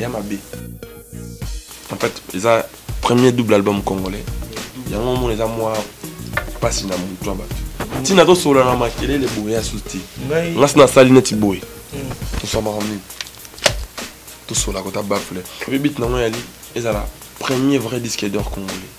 ya mabe en fait eza premier double album congolais yango omona eza mwa mpasi na motu ya bato ntina tosolola na makelele boye ya susu te ngasi nasali neti boye hmm. toswamaka mingi tosolaka kota bafle oyebi biti nango yali ezala premier vrai disque d'or congolais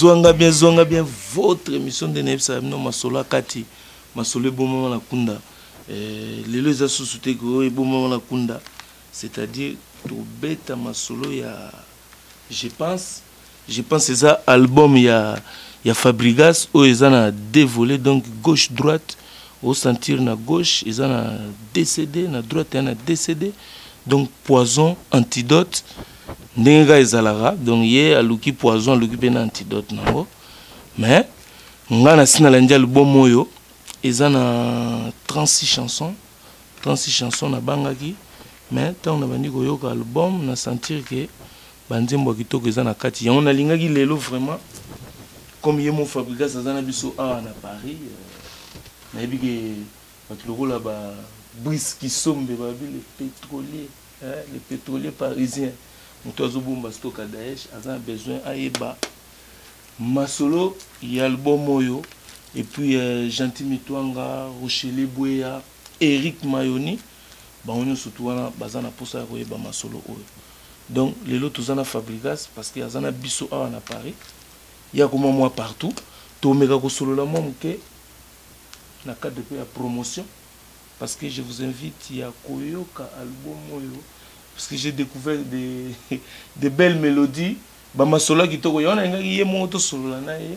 zwanga bien zwanga bien votre émission nde nayebisaka bino masolo ya kati masolo ebomama na kunda eh, lelo eza susu te koyo ebomama na kunda c'est-à-dire tobeta masolo ya Je pense je pense eza album ya ya Fabrigas oyo eza na deux volets donc gauche droite au sentir na gauche eza na DCD na droite na DCD donc poison antidote ndenge kaka ezalaka donc ye aluki poison aluki mpe na antidote nango mais ngai nasi nalandi album oyo eza na 36 chanson 36 chansons na bangaki mais ntango nabandi koyoka album na sentir ke banzembo ya kitoko eza na kati yango nalingaki lelo vraiment comme ye mo fabrigas aza na biso awa na paris euh, nayebi ke bato lokola ba brise kisombe babi le pétrolier hein, le pétrolier parisien moto azobomba stoka daesh aza na besoin ayeba masolo ya album oyo epuis euh, gentil mitwanga rochele bweya Eric Mayoni bango nyonso tu wana baza na posa ya koyeba masolo oyo donc lelo toza na Fabrigas parce que aza na biso awa na Paris ye akoma mwa partout tomeka kosolola mwa moke na cadre mpe ya promotion parce que je vous invite ya koyoka album oyo parce que j'ai découvert de, de belles mélodies bamasolo ya kitoko yango nalingaki ye moko tosolola na ye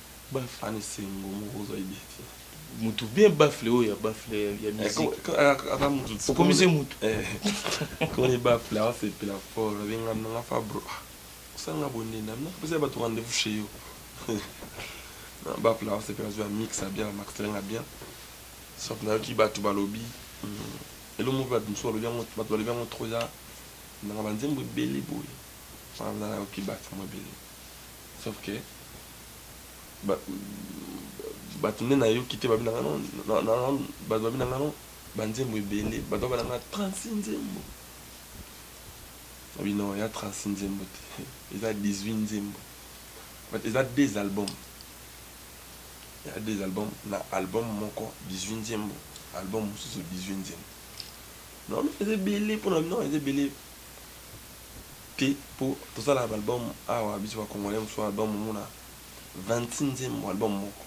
Ba fan esengo moko ozali bien te. Mutu bien baffle oyo ya baffle ya musique. Aza mutu tsikoyo. Okomisi ye mutu. Koni baffle awa sepela fort na benga nanga fa bro. Osanga bonde na na pesa batu rendez-vous chez yo. Na baffle awa sepela zwa mix ya bien max lenga bien. Sauf na yoki batu balobi. Elo moko batu musu balobi yango batu balobi yango trop ya nanga ba nzembo ebele boye. Wana na yoki batu mwa ebele. sauf que bato nde nayoki te babi na nga non bato babi na nga non banzembo ebele bato baba na nga 36 nzembo babi non ya 36 nzembo te eza 18 nzembo eza deux albums ya deux albums na album moko 18 nzembo album mosusu 18 nzembo non eza ebele mpona non eza ebele te po tosala ba album awa biso ba congolais mosusu album omona 26 nzembo album moko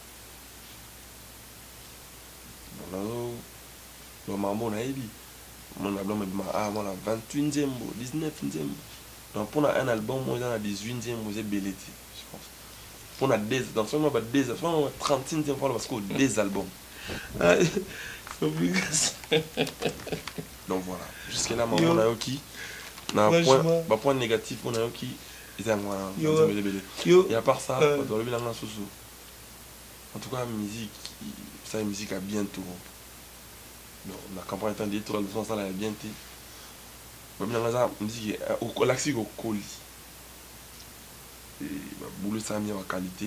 nazo loba makambo nayebi omona album ebima awa mona 28 nzembo 19 nzembo donc mpona un album oyo eza na 18 nzembo eza ebele te mpona donc soki ba 36 nzembo fana basikoyo 2 album donc voilà jusque là maman nayoki na point ba point négatif on nayoki eza yango wana nzembelebele et à part ça bato balobi nanga susu en tout cas musique ça musique à bien tour donc na campagne temps de tour leçon asala ya bien te balobi nanga eza musique olakisi kokoli babulo esami ya baqualité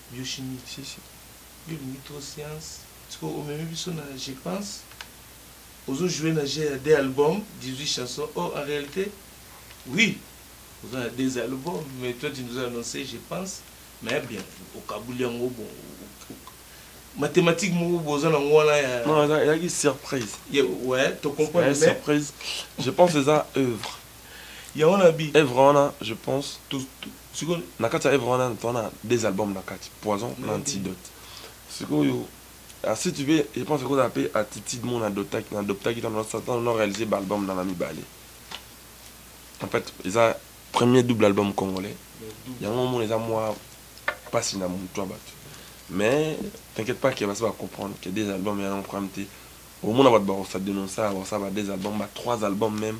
Biochimie sisi yo olingi trop science sikoyo omemi biso na je pense ozo jouer na jeu ya deux albums 18 chansons or en realite oui oza na deux albums mais toi tu nous as annoncé je pense mais ya bien okabuli yango bon mathématique moko boza nango wana ya ezalaki surprise ouais to comprendre surprise je pense eza œuvre yango na bi œuvre wana je pense tout Siko na kati ya œuvre wana to na deux albums na kati poison na antidote sikoyo ah, si tu veux je pense que kozala pe attitude mon adoptaki na adoptaki dans notre temps on a réalisé ba album na na mibale en fait eza premier double album congolais yango mon eza moi pasi na mutu ya batu mais t'inquiète pas que basi ba comprendre que des albums ya problème te omona bato bakosala denonsa bakosala ba deux albums ba trois albums même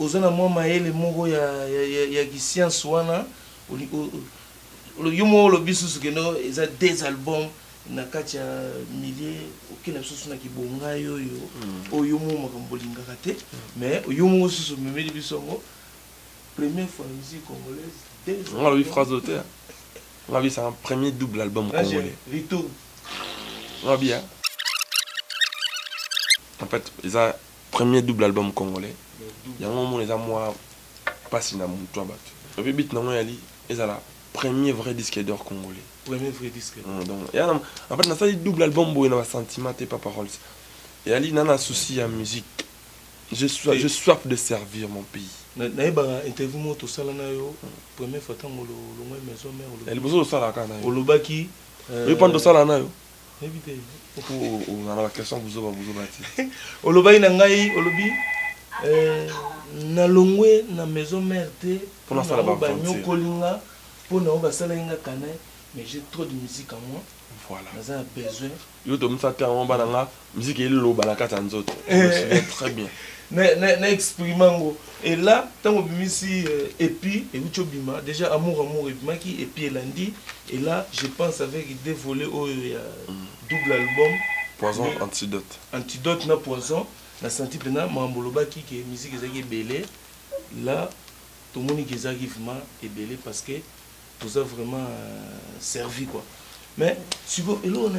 Oza na mwa mayele moko ya, ya, ya, ya kisiansi wana yo moko olobi susu keno eza des albums na kati ya milieu okenda susu na kibongai oyo mm. oyo moko makambo olingaka te mais yo moko susu omemeli biso yango première fois na musique congolaise nga alobi phrase oyo te nga alobi c'est un premier double album congolais retour nga alobi en fait eza Premier double album congolais. Yango omona eza mwa pasi na mutu ya batu. Et puis beat nango yali ezala premier vrai disque d'or congolais. Premier vrai disque. Mm, donc yana en fait nasali double album boye na ba sentiments te papa Rolls. Yali nana souci ya musique. Je soif, je soif de servir mon pays. nayebaka interview moko tosala na yo première fois ntango olongwai maison mère eh, liboso tosalaka na yo olobaki euh, oyo mpano tosala na yo nayebi te ozala na baquestion buzoba buzoba ti olobaki na ngai olobi eh, nalongwe na maison mare te mpo nasala banyokoli nga mpo na oyo basalaki nga kane mais j'ai trop de musique à moi voilà naza na besoin yo tomisa te yango bana nga miziki eloba na kati ya nzoto eh. très bien na exprime yango Et là, tant que Bimisi epi euh, et Ucho Bima, déjà amour amour et Bimaki, et puis Elandi, et là, je pense avec des volets oh, il y a double album. Poison, mais, antidote. Antidote na poison, na senti pena mambolobaki que musique ezaki belé. Là, tout le monde qui ezaki vraiment belé parce que tout ça vraiment euh, servi quoi. Mais si vous, et là on a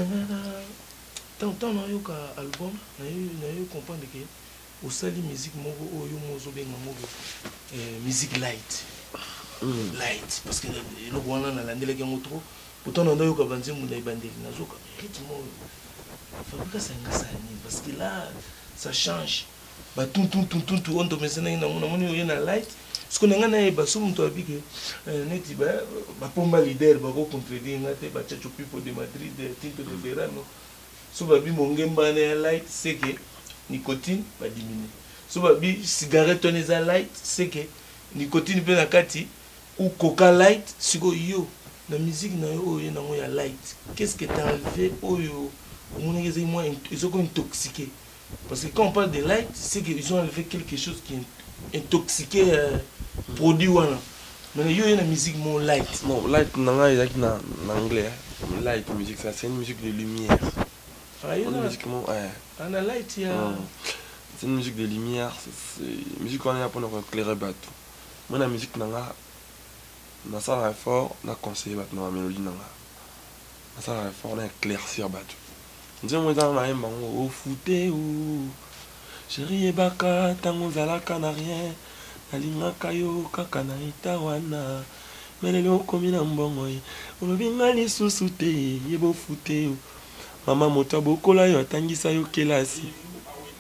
tant tant na yoka album, na yo na yo comprendre que Osali musique moko oyo yo mozo benga ngo eh, musique light. Mm. Light parce que eloko wana na landelaki yango trop. Pourtant na ndoyoka banzembo na ebandeli na zoka rythme oyo. Fabrica sanga sani parce que là ça change. Ba tout tout tout tout tout on te mesena ina mona moni oyo na light. Ce qu'on a nga na eba so muto abi que eh, neti ba ba pomba leader ba ko contredire nga te ba chacho people de Madrid, eh, Tinto de Verano. Mm. so ba bi mongemba wana ya light seke nicotine ba diminue so ba bi cigarette wana eza light seke nicotine pe na kati ou coca light siko yo na musique na yo oyo nango ya light qu'est-ce que t'as enlevé oyo omonaki ezali mwa ezoko intoxiquer Parce que quand on parle de light, c'est qu'ils ont enlevé quelque chose qui intoxiquait euh, produit wana. Mais yo la musique mon light. Non, light nanga ezaki na en anglais. Hein. Light musique ça c'est une musique de lumière. Ah yo na musique mon ouais. Ah na light ya. Non. C'est une musique de lumière, c'est musique wana ya pona ko éclairer bato. Moi la musique nanga na sala effort na conseiller bato na mélodie nanga. asala effort na éclaircir bato nzembo eza na yemba yango ofute o sheri yebaka ntango ozalaka na rien nalingaka yo kaka na eta wana me lelo okomi na mbongo ye olobi nga lisusu te yeba ofute o mama moto abokola yo atangisa yo kelasi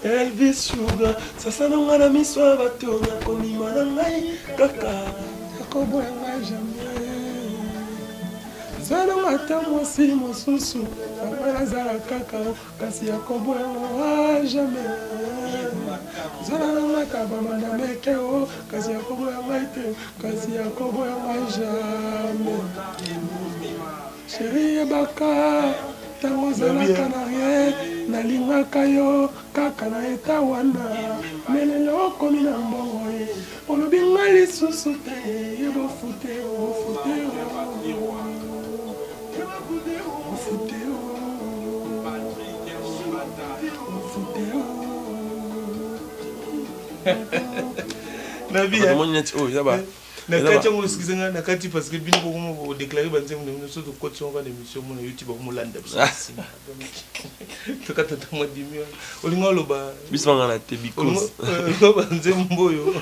Elvis Sugar, sasa na nga na miso ya bato nakondima na ngai kaka nakoboya ngai jamais zalonga ata mwasi mosusu anga nazala kaka kasi akoboya ngai jamais zala na ngai kabama na meke o kasi akoboya ngai te kasi akoboya ngai jamais Cherie yebaka tango ozalaka na rien nalingaka yo kaka na eta wana melelo okomi na mbongo ye olobi nga lisusu te ye bofute bofute bofute bofute na vie omoni neti oyo yaba nakati yango esikisa ngai nakati parce que bino bokoma kodeklare banzembo na bino so tokoti yango kaka na émission mona youtube akomolanda biso na nsima tokata ta mwa dimi wana olinga oloba biso banga na te bicause euh, banzembo oyo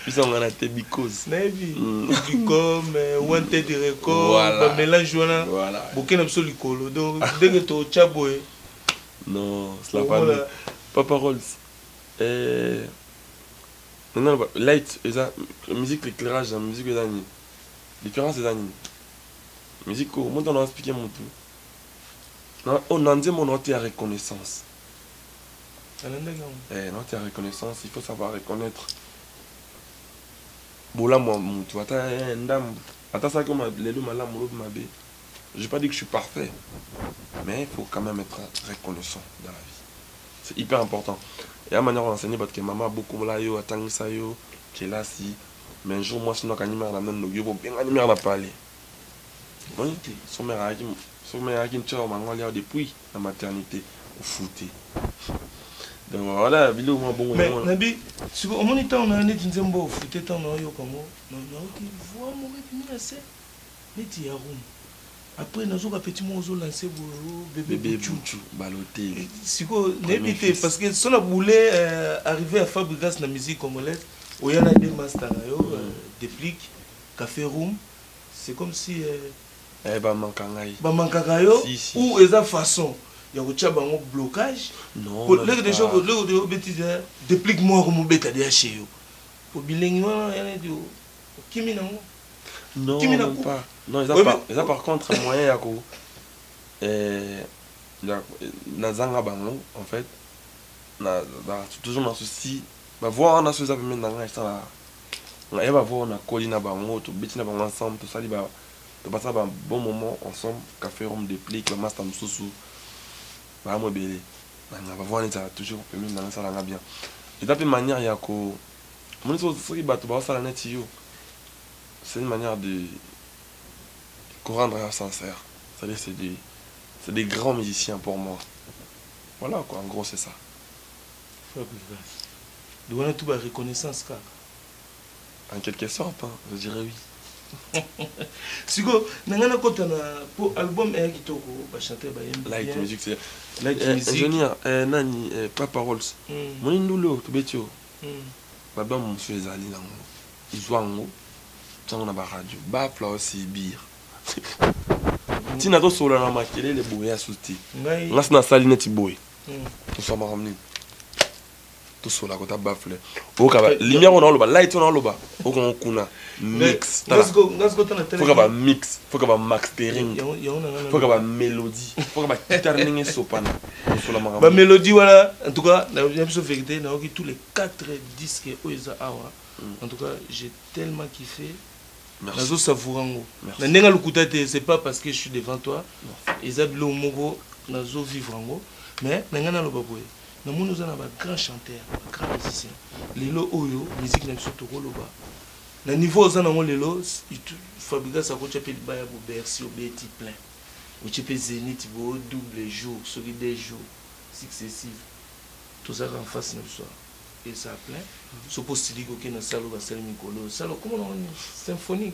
biso banga na te bicause nayebi mm. bicom euh, wanted record bamélange wana boke na biso likolo donc ndenge totya boye non papa rolls eh, Nana ba light eza musique l'éclairage na musique eza nini? Différence eza nini? Musique ko monta na expliquer mutu. Na oh na nzembo na otia reconnaissance. Alandaki yango. Eh na otia reconnaissance, il faut savoir reconnaître. Bolamu ya mutu ata eh, ndambu. Ata saki ma lelo malamu lobi mabe. J'ai pas dit que je suis parfait. Mais il faut quand même être reconnaissant dans la vie. c'est hyper important ya manière ko enseigner bato ke mama abokola yo atangisa yo kelasi mais un jour mwasi no akangi mare na nani lobi yoko obengani mare na pale omoni te so mare ayaki so mare ayaki ntia yo mango alia depuis na maternité ofute donc voilà biloko mwa bongo mais nabi siko omoni ntango na yo neti nzembo ofute ntango na oyoka yango nayoki voix moko ebimi na se neti ya rhum après nazo ka petit moko ozo lancer boye oh, bebe buchu balotelli eh, sikoyo nayebi te parce que sola boule euh, arrivé à fabrigas na musique congolaise oya na de master na yo euh, déplic café room c'est comme si euh, eh, bamankaka ngai bamankaka yo ou eza façon ya kotya bango blocage leke deja obetisa déplic moko mobeta deja chez yo po bilengi wana yaneti okimi na ngo non non pas non eza par eza par contre moyen ya ko euh na zanga bango en fait na na toujours na souci ba voix wana so eza pembeni na ngai esala na ye ba voix wana koli na bango tobeti na bango ensemble tosali ba topasa ba bon moment ensemble café rome déplique ba master mosusu ba mo ebele na ba voix wana ezala toujours pembeni na ngai esala nga bien eza pe manière ya ko omoni soki bato baosala neti yo c'est une manière de corendre ya sincère c'est-à-dire c'est des, c'est des grands musiciens pour moi voilà quoi en gros c'est ça de wana tout ba reconnaissance kaka en quelque sorte hein, je dirais oui siko na ngai nakota na po album eya kitoko bachanteur bayembilike musique eh, eh, nani eh, papa rolls hmm. moni ndule oyo tobeti oyo Ba album mosusu ezali na ngo zua ngo tia ngo na ba radio ba fla osi bir ti nazo solola na makelele boye ya susu te nga si nasali neti boye toswa makambo nini tosola kota bafle oyoka lumière oyo naoloba light oyo naoloba okongo kuna mix tala foka ba mix foka ba mastering foka ba mélodie foka ba guitare ndenge esopana kosola makambo ba mélodie wana en tout cas na biso vérité na yoki tous les 4 disques oyo eza awa mm. en tout cas j'ai tellement kiffé nazo savoura yango na ndenge lokuta te c'est pas parce que je suis devant toi eza biloko moko nazo vivre yango mais na ngai naloba boye na moni oza na ba grand chanteur ba grand musicien lelo oyo miziki na biso tokoloba na niveau oza nango lelo fabrigas akotya mpe libaya bo bercy obeti plein otye mpe zenith bo double jour soki de jour successive tozalaka en face na biso eza plein soki osiliki okei na salo basali mikolo oyo sala okomona symphonie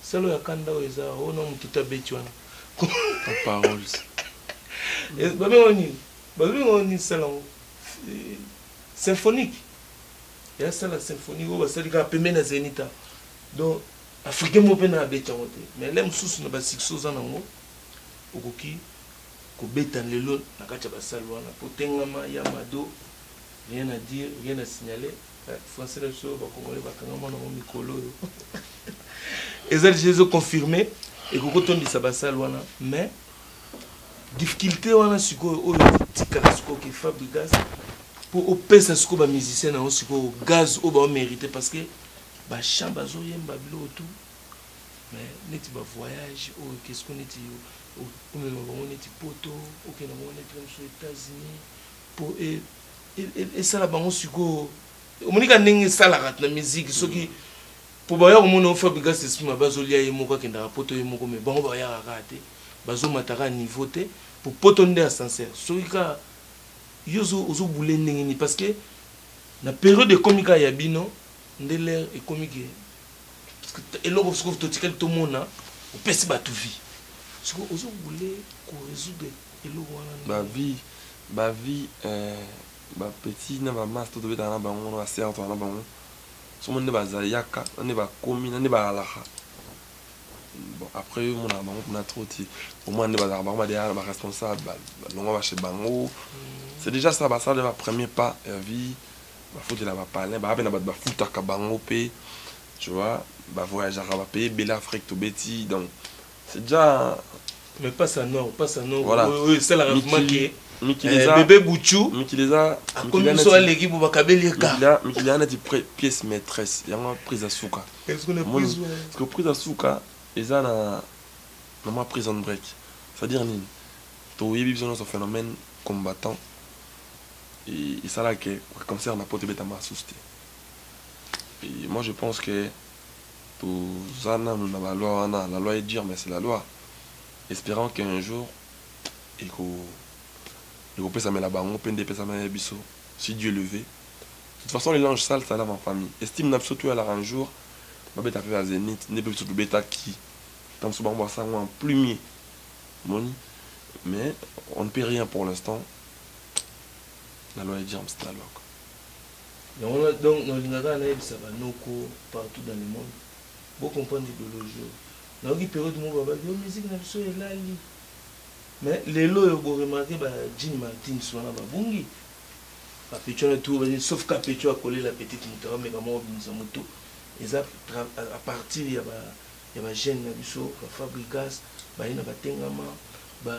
Solo ya kanda oyo eza o na mututu abeti wana. Ta paroles. Eh, ba bengo nini? Ba bengo nini sala ngo? Eh, symphonique. Ya sala symphonique oyo basali kaka pembeni na Zenita. Donc africain moko pe na abeti yango te. Mais le mosusu na ba succès oza na ngo okoki kobeta lelo na kati ya basali wana potengama ya mado rien à dire rien à signaler Français na biso ba congolais bakangama na ngo mikolo oyo eza deja ezo confirme ekoki kotondisa basale wana mais difficulté wana sikoyo oyo ezotikala sikoyo ke fabrigas mpo opesa sikoyo bamusicien na yango sikoyo gaz oyo baomérite parce que bachamp bazoyemba biloko tout mais neti bavoyage oyo ke sikoyo neti omema bango neti poto okenda bango neti na biso états-unis mpo e esala bango sikoyo omoni ka ndenge esalaka na miziki soki mm. mpo baya komona fabrigas esprit mabe azolia ye moko akendaka poto ye moko mai bango bayaka kaka te bazomataka ya niveau te mpo poto nde ascenseur soki kaka yo ozobule ndenge nini parce que na periode ekomi kaka ya bino nde lere ekomi ke eloko soki totikali tomona opesi bato vie soki ozobule koresoudre eloko wana ba vie ba vie eh, ba petit na ba master tobetaka na bango na ba serre tozala na bango somo nde bazali yaka na nde bakomi na nde balalaka bon après yo monaka bango kuna trop ti omona nde bazalaka bango badeya na baresponsable balongwa bache bango mm. c'est déjà ça basala ba premier pas ya vie bafutela bapalin baa mpe na bato bafutaka bango mpe tu vois bavoyageaka bapaye ebele afrique tobeti donc C'est déjà mais pas ça non, pas ça non. Voilà. Oui, c'est la remarque. Mikileza. Eh, bébé Bouchou. Mikileza. Akomi biso aleki bo bakabeli eka. Mikila, Mikila na ti pièce maîtresse. Yango prise à souka. Est-ce qu'on a prise Parce que prise à souka eza na na ma prison break. C'est-à-dire nini To yebi biso na phénomène combattant. Et, et ça là que concerne la pote beta ma souste. Et moi je pense que Toza nanu na ba loi wana, la loi est dure mais c'est la loi. Esperons que un jour eko ekopesamela bango pe nde epesamela biso si Dieu le veut. De toute façon le linge sale ça lave en famille. Estime na biso to yalaka un jour babeta pe ba zenith nde pe biso tobetaki tango mosusu bango basala yango en plumier omoni mais on ne peut rien pour l'instant la loi est dure mais c'est la loi quoi. Yango donc nalinga kaka nayebisa ba noko partout dans le monde bo comprendre ideologie oyo. Nayoki periode moko babaki yo oh, musique na biso elali. Mais lelo oyo bo remarquer ba Gene Martins wana babungi. Kapecho na tout bani sauf Kapecho akolela petite moto akomeka moko bimisa moto. Eza à partir ya ba ya ba jeunes na biso ba Fabrigas baye na batengama ba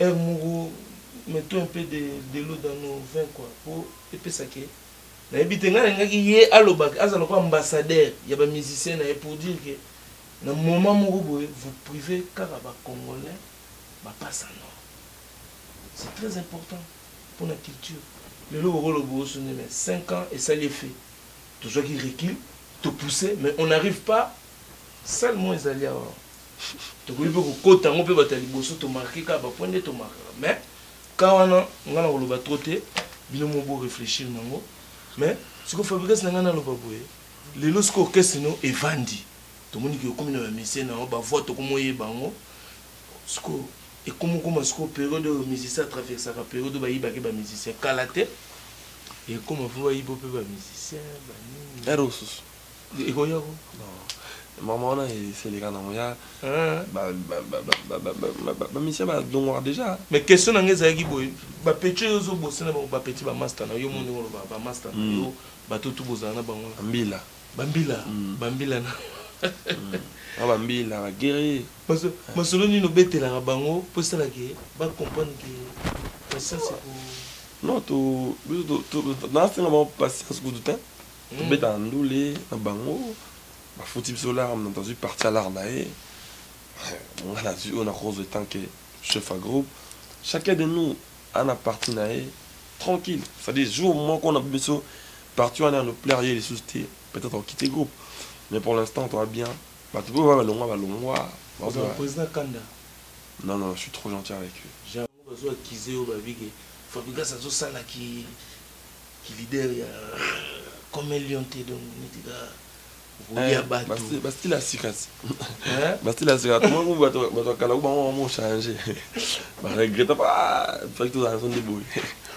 Heure moko mettons un peu de de l'eau dans nos vins quoi po epesa ke nayebi te ngai nalingaki ye aloba ke azala lokola ambassadeur ya ba musiciens na ye pour dire ke na moment moko boye vous privez kaka ba congolais ba passa nord c'est très important pona culture lelo bokoloba osungi mais cinq ans esali effet tozwaki recul to pousser mais on n'arrive pas Salle moko ezali awa. Tokoki mpe kokota yango mpe bato ya liboso tomarke kaka bapoint nde tomarkaka mais ka wana ngai nakoloba tro te bino mo bo réfléchir na yango mais siko fabrigas na ngai naloba boye lelo siko orchestre no evandi tomoni ke okomi na bamisie na yango bavoi tokomi oyeba yango siko ekomi okoma siko periode oyo musicien atraversaka periode oyo bayibaki bamusicien kala te ekoma fo bayibo mpe bamusicien banini ekoya ko mama wana eseleka nango ya bamisien badongwaka déjà mais question na ngai ezalaki boye bapeti oyo ozobose na bango bapeti bamasta na yo mo ndenge oloba bamasta na yo mm. bato tu bozala na bango bambila bambila mm. bambila na mm. ah, bambila bagere masolo nini obetelaka bango mpo esalaki bacomprendre ke patience non nasenga bango patience kutu te tobeta na ndule na bango bafuti biso lar moto azwi parti ya lar na ye nga nazwi oyo nakozwa etant ke chef ya groupe chacun de nous ana parti na ye tranquille c'est-à-dire jour moko na biso parti wana ya no plaire ye lisusu te peut-être okite groupe mais pour l'instant toa bien bato mpe oyo balongwa balongwa président kanda non non je suis trop gentil avec eux Bazo accuse yo ba bike fabrigas azo sala ki ki leader ya comme un lion te donc neti ka okolia eh, batu ba style asika ba style asika to mo ba to ba to kala ba mo mo changer ba regrette pas ah, fabrigas azo ndeboye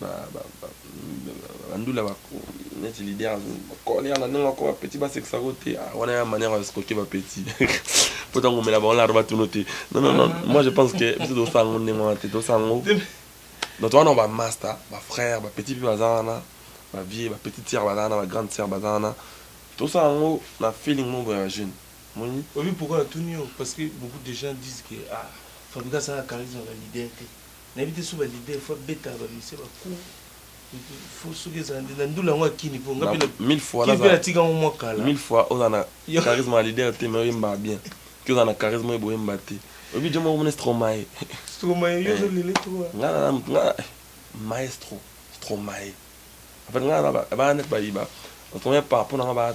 ba ba ba ba ndula ba neti leader kole ya ndenge ko ba petit ba sexa ko te ah, wana ya manière ya skoke ba petit poto ngo mela ba on la roba tuno te non non non moi je pense que biso do sango ndenge wana te do sango donc wana ba master ba frère ba petit pe baza wana ba vieux ba petit sœur baza wana ba grande sœur baza wana to sango na feeling mo ba jeune moni oui pourquoi la tunio parce que beaucoup de gens disent que ah Fabika ça a charisme la leader te nayebi te so ba leader faut abetaka ba musicien ba cour faut soki ezala nde na ndula yango akini mpo nga mpe natika yango mwa kala mille fois oza na charisme ya leader te mais oyembaka bien ki oza na charisme oyo boyemba te oyebi jo moko mona stromae stromae yo ozolele eh. toa nga na motu nga eh, maestro stromae en fait nga na bana neti bayiba otomai par rapport na nga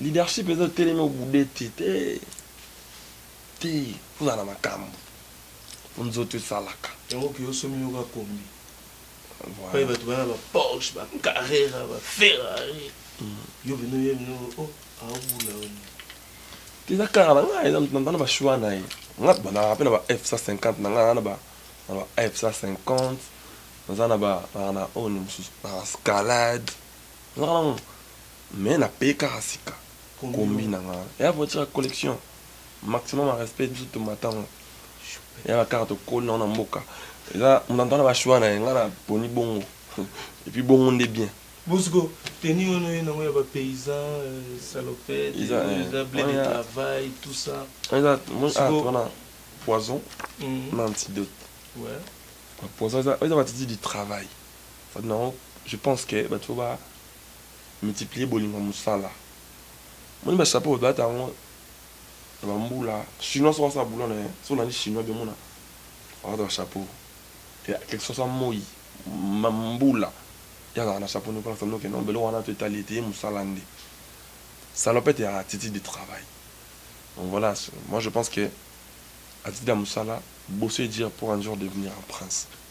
Leadership eza otelemi obude te te te kozala na makambo po nzoto esalaka yango ke osomi yoka kombi pai bato bana ba porsche ba carrera ba ferrari mm. yo bino ye bino o oh, aobula yo eza kaka na ngai na bashua na ye nga banaka mpe na ba f 150 na ngai na ba f 150 naza na ba na oyo mosusu na scalade nazaka nango Mais na paye kaka sika combi na nga ya voiture ya collection maximum ya respect biso to matango ya ba kaka to koli na na mboka eza munanto na ba choix na ye nga na poni bongo et puis bongo nde bien Bosco, tenue wana oye nango ya ba paysans, euh, salopette, eza euh, blé de travail, tout ça. Eza ah wana poison mm. na antidote. Ouais. Ba poison eza eza ba titi du travail. Ça non, je pense que ba tu ba multiplier bolingo ya musala omoni ba chapeau balata yango na ba mbula chinois soki asala boulot na ye soki olandi chinois bien omona balata ba chapeau ya quelque soit sa moi mbula ye azalaka na chapeau noko na salono okende mbele wana to etali ete ye musala nde salopette ya attitude de travail donc voilà moi je pense que attitude ya musala bosse dur pour un jour devenir un prince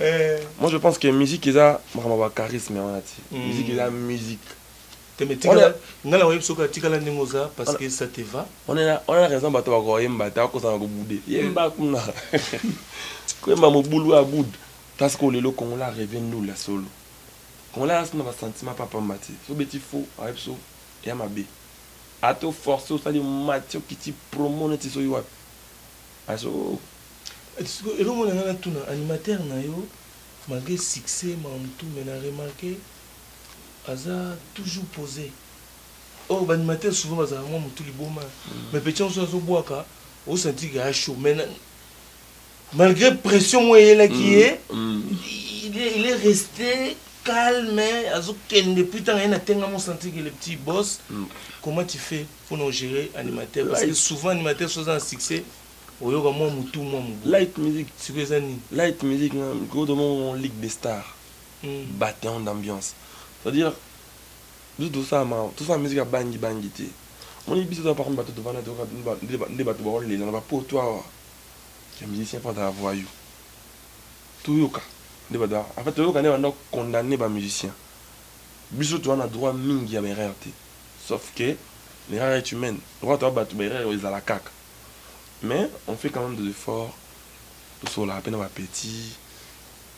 Eh. Moi je pense que musique eza makambo ba charisme wana ti. Mm. Musique eza musique. Te mais tika nga na oyebi soki atikala ndenge oza parce que ça te va. On est là, on a raison bato ba ko yemba ta ko sana ko boude. Yemba kuna. Ko yemba mobulu a boude. Parce que lelo Congo la rêve nous la solo. Congo la sina ba sentiment papa mbati. So beti faux, ayebi so ya mabe. Ato force osali matio kiti promo neti so yo wapi. Azo. Sikoyo eloko na nga na tuna animateur na yo malgre succès makambo tout mais na remarque aza toujours pose or ba animateur souvent bazalaka mwa motu liboma mm. mais petit yango azo bwaka o sentir que a chaud mais malgré pression mwa eyelaki mm. ye mm. il est resté calme azo kende puis tanga ye na tenga mo sentir que le petit boss comment tu fais pona ogere animateur parce que souvent animateur soza na succès oyoka mwa motu mwa mobu light music siko eza nini light music na mikolo tomongo ligue des stars hmm. bateon d'ambiance c'est-à-dire biso tosala ma tosala musique ya bangi bangi te moni biso toza parmi bato tovanda toyoka nde bato baolela na bapoto awa ya musicien mpo azala voyou toyoka nde bato en fait toyoka nde banda condamne bamusicien biso toza na droit mingi ya baerreur te sauf que l'erreur est humaine lokola toza bato ba erreur ezala kaka mais on fait quand même des efforts tosololaka mpe na ba petit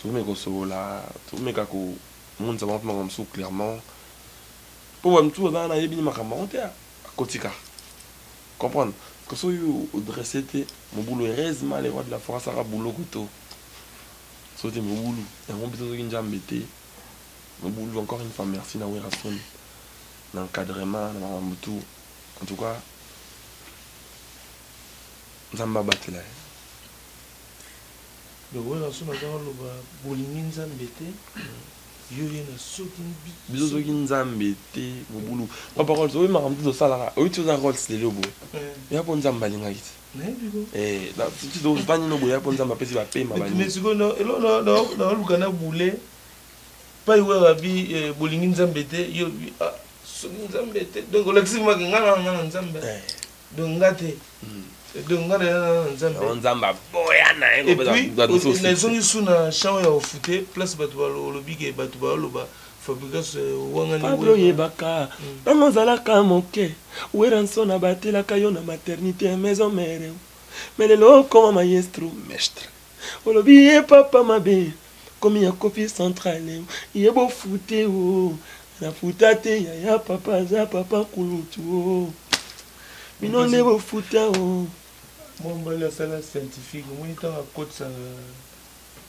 tomeka kosolola tomeka komonisa bango mpe makambo mosusu clairement mpo ba mosusu baza wana ayebi ni makambo yango te akotika comprendre parce que soki odresse te mobulu heureusement le roi de la forêt asaka boulot kuto soki te mobulu yango biso soki njambe te mobulu encore une fois merci na werrason na encadrement na makambo tout en tout cas nzambe abatela ye lokola so naza oloba bolingi nzambe te yo ye na soki biso soki nzambe te bobulu papa rols oyebi makambo te tosalaka oyebi ti oza rols lelo boye eh. ya mpo nzambe alingaki te tozanino eh, boye ya mpo nzambe apesi bapema baoluka na bule pai wewe abi eh, bolingi nzambe te yo bi ah, soki nzambe te donc olakisi maki nga na nga na nzambe eh. donc nga te hmm. donc nga na nga na nzambe oh, nzambe aboya na ye et puis nazongi su na champ ya ofute place bato balobi ke bato baloba fabrigas eh, wanganipablo oyebaka ntango hmm. ozalaka moke weranson abatelaka yo na maternité ya maison mere me lelo okoma maestro mestre Olobi ye papa mabe komi ya kofi centrale ye bo fute o na futa te yaya papa aza papa kulutu o bino nde bo futa o mwa mbali asala scientifique omoni ntango akotisaka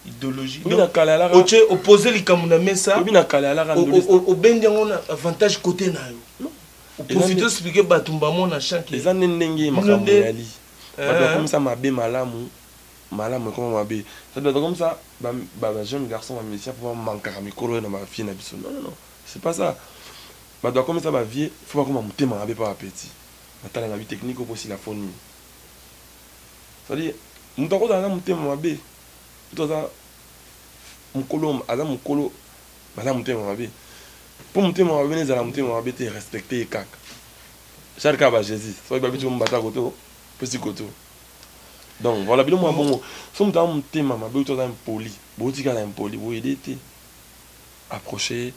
idéologie otie opose likambo na mesa obendi yango na avantage kote na yo oprofite ospike bato mbamo na chanke eza nde ndenge makambo yali bato bakomisa mabe malamu malamu ekoma mabe ça doit comme ça ba ba jeunes garçons ba musiciens faut ba mankaka mikolo oyo na ba vieux na biso non non non c'est pas ça ba doit comme ça ba vieux faut bakoma motema mabe pa ba petit batala na bi technique oyo bosila fo nini ça dit moto akozala na motema mabe moto aza mokolo aza mokolo aza motema mabe mpo motema mabe na ezala motema mabe te respecte ye kaka charka ba jésus soki babeti mombata koto pesi koto donc voilà bino mwa bongo so moto aza motema mabe oyo to aza impoli botikala impoli boyede te approche ye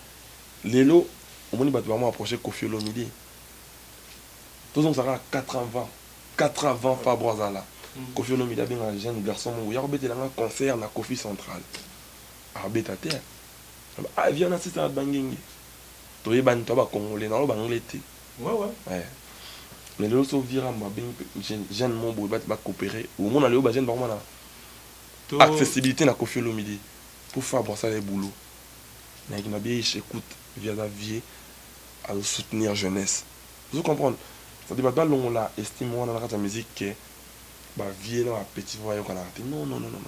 lelo omoni bato bango approche kofi olomide tozongisa kaka 4 ans avant 4 ans avant fabro azala mm. kofi olomide abengaka jeune garçon moko ya kobetela nga concert na kofi central abeta te aviana ah, sisa na bangenge toyebani to bacongolais na oyo banglais te Ouais, ouais. Ouais. Mais lelo so vira mba bengi pe jeune jeune mo boye bati ba coopérer. Au moins lelo ba jeune ba komana to accessibilité na Koffi Olomide pour faire bon ça les boulot. Mais qui m'a bien écoute via la vie à soutenir jeunesse. Vous comprenez? Ça dit ba ba longola estime wana na kata musique que ba vieux na ba petits ba yokanaka te non non non non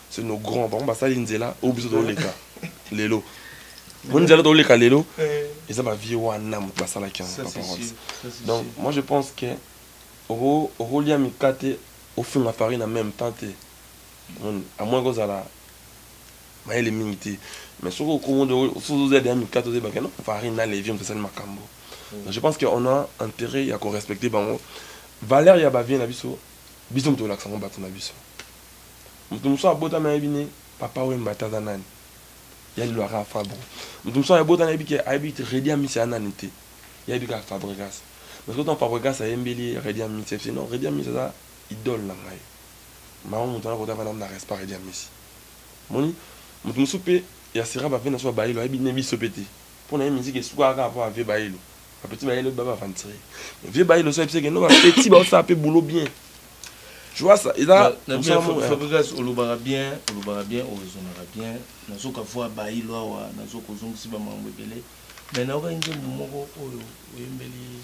c'est nos grands bango basali nzela oyo biso toleka lelo mo nzela toleka lelo eh. eza ba vieux wana moto basalaki yango ba paroles donc moi je pense que okolia mikate ofinga farine en même temps te amoni kozala mayele mingi te mais soki okomoda ozoya deya mikate ozebake no farine na levi moto esali makambo mm. je pense que on a intérêt ya korespecte bango valeur ya bavie na biso biso moto olakisa yango bato na biso moto mosusu abotami ayebi ne papa wemba te aza nani ya lilwaka ya fabro moto mosusu abotami ayebi ke ayebi redi amisi ya nani te yayebi kaka fabregas mais soki ntango fabregas ayembeli redi amisi efsi non redi amisi aza idole na ngai mama moto anakota vana na respect redi amisi Omoni mutu mususu pe ya sera ba vie na so ya bayelo ayebi ne biso pe te pona ye musique esukaka kaka po ya vie bayelo ba petit bayelo ba ba aventurie mais vie bayelo so ayebiseke no ba petit ba osala pe boulot bien Joasa eza Fabrigas olobaka bien olobaka bien oezonaka bien nazoka voir bayi lwawa nazoka ozongisi ba mambo ebele mais nayokaki nzembo moko oyo oyembeli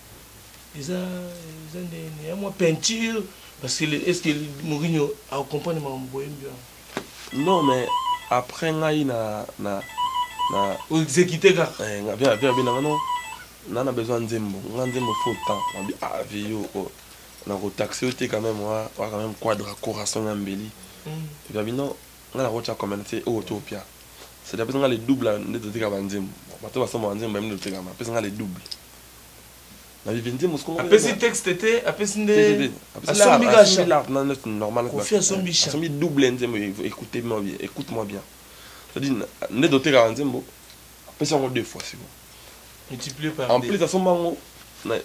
eza eza nde ya mwa peinture parce que est ce que Mourinho a comprendre makambo boyembi wana non mais après ngai na na na exécuter kaka eh nga bien bien bien non na na besoin nzembo nga nzembo faut temps na bi ah vieux oh na ko taxer yo te quand même wa wa quand même quadre corazon ya mbeli mm. bien non nga na ko tsa commenter oh to pia c'est d'après nga le double nde to tika ba nzembo bato basomba ba nzembo ba minde to tika ma pesa nga le double na vivi nzembo sikoyo apesi texte te apesi nde asombi gasha normal kofi asombi sha asombi double nzembo écoute moi bien écoute moi bien c'est-à-dire nde dotekaka nzembo apesi yango deux fois sikoyo multiplier par en plus asomba yango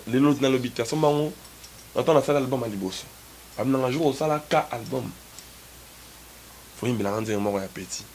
lelo nalobi te asomba yango na ntango nasali album ya liboso abinanga jour osala ka album foyimbelanga nzembo moko ya petit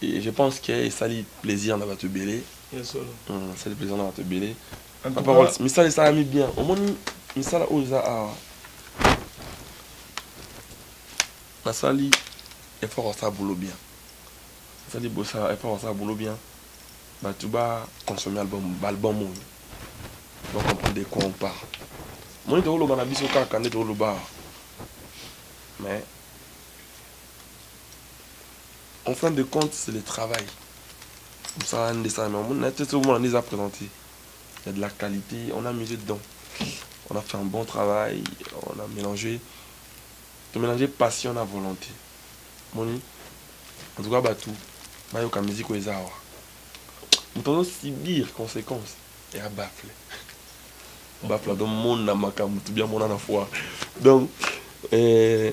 Et je pense que esali plaisir na bato ebele esali plaisir na bato ebele parole misala esalami bien omoni misala oyo eza awa nasali effort asala boulot bien nasali bosala effort asala boulot bien bato ba consomme album baalbum oyo ba comprendre de quoi on parle omoni tokoloba na biso kaka nde tokoloba awa mais en fin de compte c'est le travail mosala nde esalami omoni na te sokomona nde eza présente ya de la qualité on a misé dedans on a fait un bon travail on a mélangé to mélanger passion na volonté moni en tout cas bato bayoka musique oyo eza awa moto azo subir conséquence ya bafle bafle adomona makambo tobia mona na foire donc eh,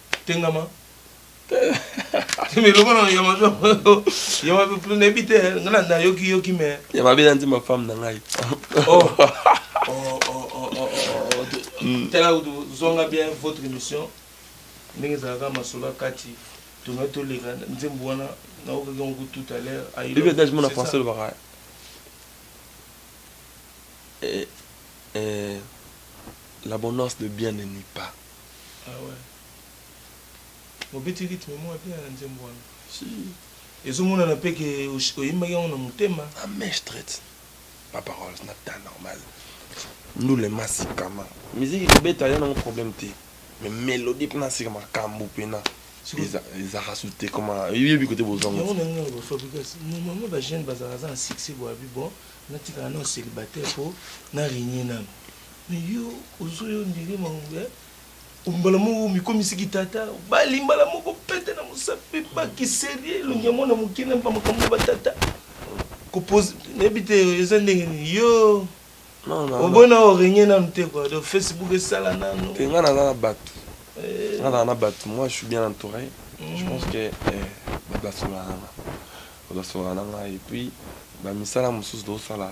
tengama mais lokola ya mabe ya mabe plus nayebi te nga na nayoki yoki mais ya mabe na nzima femme na ngai oh. Oh, oh, hmm. tala zonga bien votre émission ndenge ezalaka masolo ya kati tona toleka nzembo wana naokaki yango tout à l'heure bibi adage mona français olobaka eh, eh, l'abondance de bien ne nuit pas Ah ouais. Mobeti rythme mwa bien na nzembo wana. Si. Ezomonana mpe ke oyembaki yango na motema. Ah mais straight. Pas paroles na temps normal. Ndule masikama. Musique kobeta ya nango problème te. Mais mélodie mpe nasika makambo mpe na ezaka su te koma oyebi kote bozongo yango nango na bafabrigas normalement bajeune bazalaka za na succès boyabi bon natikala nao célibataire mpo na régne nano Mais yo ozo yo ndire mangue ombala moko omikomisi kitata obali mbala moko pete na mosapi baki serie elongi ya mwana moke na bamakambo batata kopose nayebi te eza ndenge nini yo obona orenye nanu te kua do facebook esala nanu te nga naza na bato eh. nga naza na bato moi je suis bien entouré mm. je pense que eh, bato basololaka nga bato basololaka na ngai epuis bamisala mosusu tosala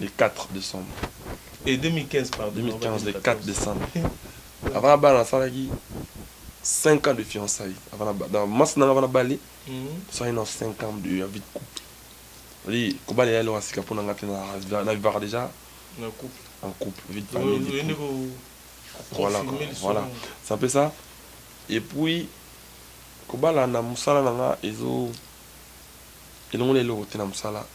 le 4 decembre et 2015 pardon 2015 le 4 decembre avant na bana nasalaki 5 ans de fiançailles avant na dans masse nanga avant na bali tosalaki na 5 ans de vie de couple ali kobala ya eloko ya sika mpo na ngai te na vivaka déjà en couple en couple vie de famille voilà voilà c'est un peu ça et puis kobala na mosala na nga ezo elongoli eloko te na mosala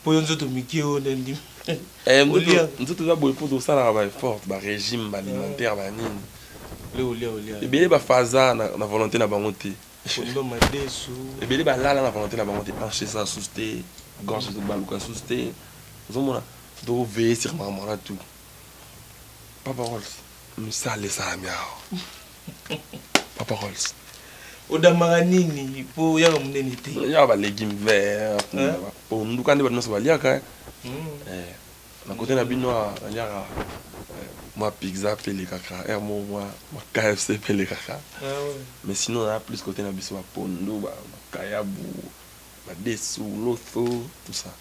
mpo yo nzoto mike oyo nde ndimi eh, nzoto eza boye mpo tosalaka baefforte barégime baalimentaire ah. banini ebele bafaza na volonté na bango te ebele balala na volonté na bango te hanche eza susu te gorge ezobaluka susu te ozomona tokoveye sur makambo wana tout papa rols misala esalami awa papa rolls odambaka nini po oyaka monene te ya baleki vert po nduka nde bato nyonso baliaka eh. hmm. eh, na kote na bino aliaka eh, mwa pizza mpe elekaka r mo mwa kfc mpe elekaka ah mais sinon na plus kote na biso bapondo bakayabu badesu lotho tout ça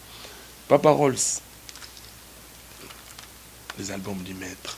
papa rolls les albums du maître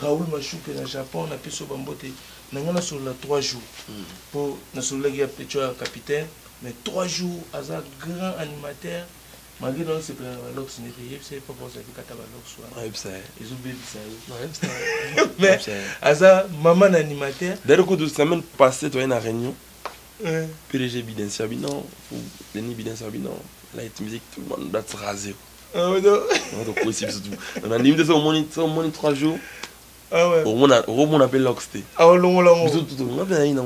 Raoul Mashuke na Japon na pesi yo ba mbote na nga na solola 3 jours hmm. po na sololaki ya pecho ya capitaine mais 3 jours aza grand animateur malgré dans ce plan la lox n'est payé c'est pas pour ça que kata ba lox wa ouais ça ils ont baby ça ouais ça mais aza maman animateur d'ailleurs coup de semaine passée toi une réunion PDG Biden Sabino ou Denis Biden Sabino light music tout le monde doit se raser okosi biso nandimi te soki omoni 3 jours okomona mpe lox te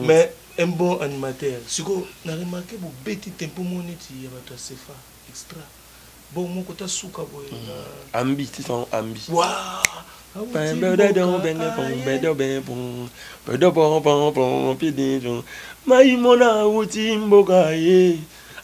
mais un bon animateur sikoyo na remarke bobeti tempo moko neti ya bato ya sefa extra bongo moko ta suka boye ambi tisango ambi maimona auti mboka ye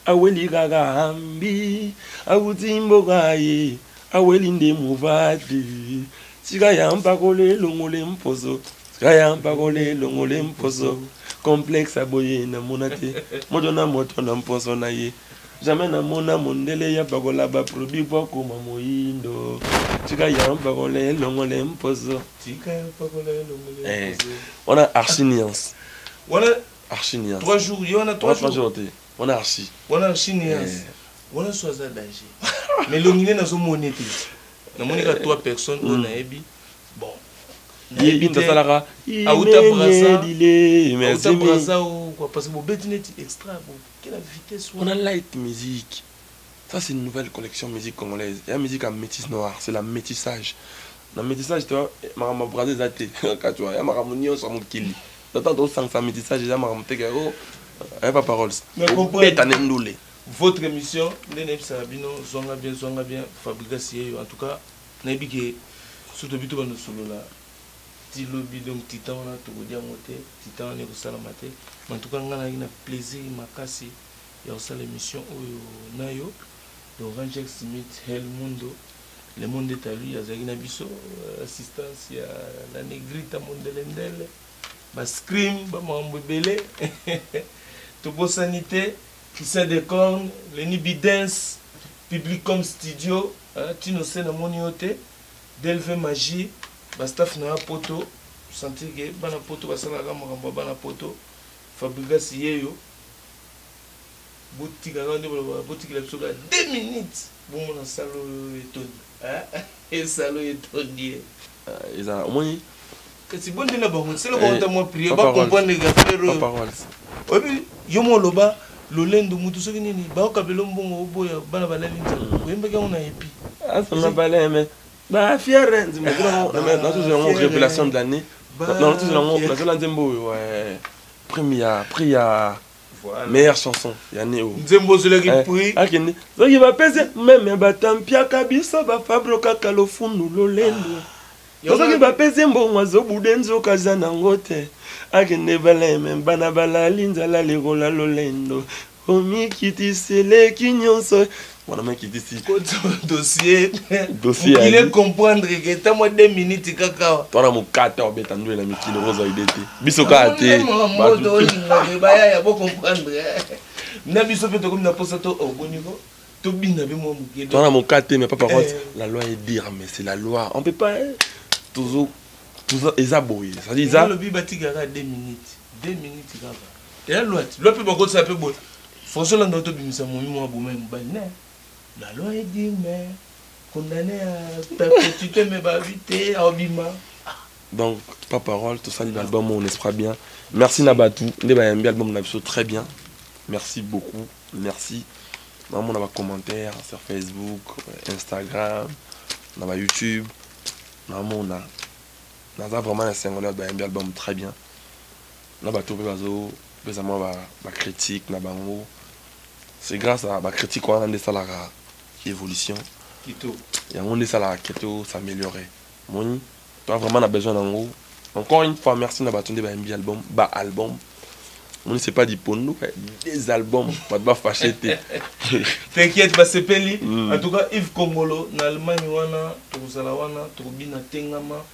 Aweli kaka hambi, awuti mboka ye, aweli nde mobali. Tika ya mpako le longo le mposo, tika ya mpako le longo le mposo. Complexe ya boye na mona te, moto na moto na mposo na ye. Jamais na mona mondele ya pakola ba produit po akoma moyindo. Tika ya mpako le longo le mposo. Tika ya mpako le longo le eh, mposo. Wana archi nuance. Wana Archi Nias. 3 jours yo na 3 jours. 3 jours te. Wana Archi. Wana Archi Nias. Eh. Wana so aza danger. Mais longine nazo moni te. Na moni ka 3 personnes on a ebi. Bon. Ye bin tasalaka. Auta brasa. Auta brasa ou quoi parce que bobeti neti extra bo. Quelle vitesse. On a light musique. Ça c'est une nouvelle collection musique congolaise. Ya musique ya métis noir, c'est la métissage. Na métissage to makambo braza eza te. Katwa ya makambo nyonso ya mokili. Tata to sangisa métissage eza makambo te ke oh eh, pas paroles. Beta ne ndule. Votre émission nde na ebisa bino zonga bien zonga bien Fabrigas yeyo en tout cas na yebi ke surtout bito bando solola ti lobi donc titan wana tokodia yango te titan wana ekosalama te en tout cas ngai nayaki na plaisir makasi ya kosala emission oyo nayo Laurent Jack Smith Hell Mundo le monde est à lui azalaki na biso assistance ya la negrita mondelendele ba scream ba makambo ebele tobosani te Christian Decorn Lenny Bidens Publicom Studio tino se namoni yo te Delve Magie ba staff na ya poto sentir ke bana poto basalaka makambo ya bana poto Fabrigas yeyo botika nga nde boloba botikela biso ka deux minutes bomona salle oyo etondi eeh salle oyo etondi eh ezala omoni kasi bonde na bango selo bango ta mwa prière ba comprendre ga frère oyo oyebi yo mo loba lolendo mutu soki nini baoka belo mbongo oboya bana balali nzala oyembaki yango na epi asoma baleme ba fierens mais dans tout yango révélation de l'année dans tout yango la zone nzembo oyo ouais prime ya prix ya meilleure chanson ya neo nzembo ozolaki eh, prix akende soki bapese meme batampiaka biso bafabro kaka lofundu lolendo ah. soki bapese mbongo azobude nzoka aza nango te akende baleme bana balali nzala lekola lolendo omikitisi eleki nyonso wana makitisi dossier okile comprendre ke ta mwa 2 minutes kaka twana mokata obeta ndule na mikili kozwa ide te biso kaka te bayaya bo comprendre eh. na biso mpe tokomi na mposa to oboniko oh, tobina mpe mwa moke twana mokata te mais papa eh. rote la loi est dire mais c'est la loi on peut pas eh. tozo eza boye eza olobi batikaka 2 minutes 2 minutes kaka ya loi ti loi mpe bakotisa mpe boye françois landa oto bimisa momi mwa boma ya mobali ne la loi est dire mais condamné à perpétuité mais babi te aobima donc pas parole tosali na album oyo nespra bien merci na bato nde bayambi album na biso très bien merci beaucoup merci namona bacommentaire sur facebook instagram na bayoutube namona naza vraiment na esengo na bayambi album très bien na bato mpe bazopesa mwa bacritique na bango c'est grâce à bacritique wana nde esalaka évolution yango nde esalaka ke tosaméliorer moni toa vraiment na besoin nango encore une fois merci na bato nde bayembi album ba album moni c'est pas dipondo des albums bato bafashe te t'inquiète basepeli mm. en tout cas yves kongolo na allemagne wana tokozala wana tokobina tengama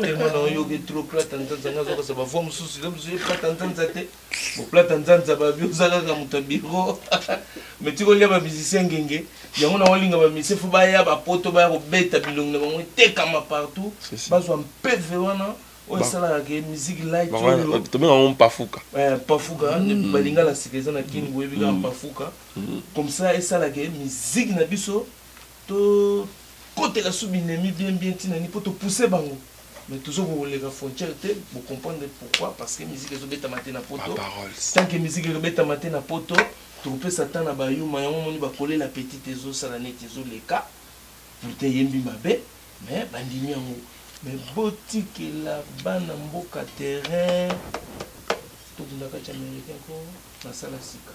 tellement na oyoki trop plata nzanza nga azokasa bavoi mosusu yo mosusu ye plata nzanza te boplata nzanza babi oza kaka moto ya biro mais tika olia bamusicien ngenge yango na olinga bamusicien fo baya bapoto baya kobeta bilongi na bango etekama partout bazwa mpeve wana oyo esalaka ke musique light oyo tobenga yango mpafuka eh, mpafuka mm. balinga la sika eza na kini boyebi kaka mm. mpafuka mm. comme ça esalaka musique na biso To kotela sous binemi bien bien tina ni po to pousser bango mais tozo koleka frontière te bo comprendre pourquoi parce que musique ezo beta mate na poto tant que musique ezo beta mate na poto to pesa temps na ba yuma yango moni ba coller la petite ezo sala neti ezo leka pourtant yembi mabe mais bandimi yango mais botikela bana mboka terrain tokunda kati américain ko nasala sika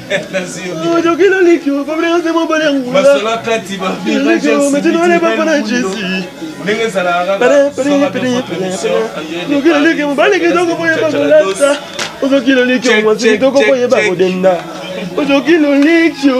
ndenge ezalaka ozoki lolikio mwasi kitoko mpo yeba kodenda ozoki lolikio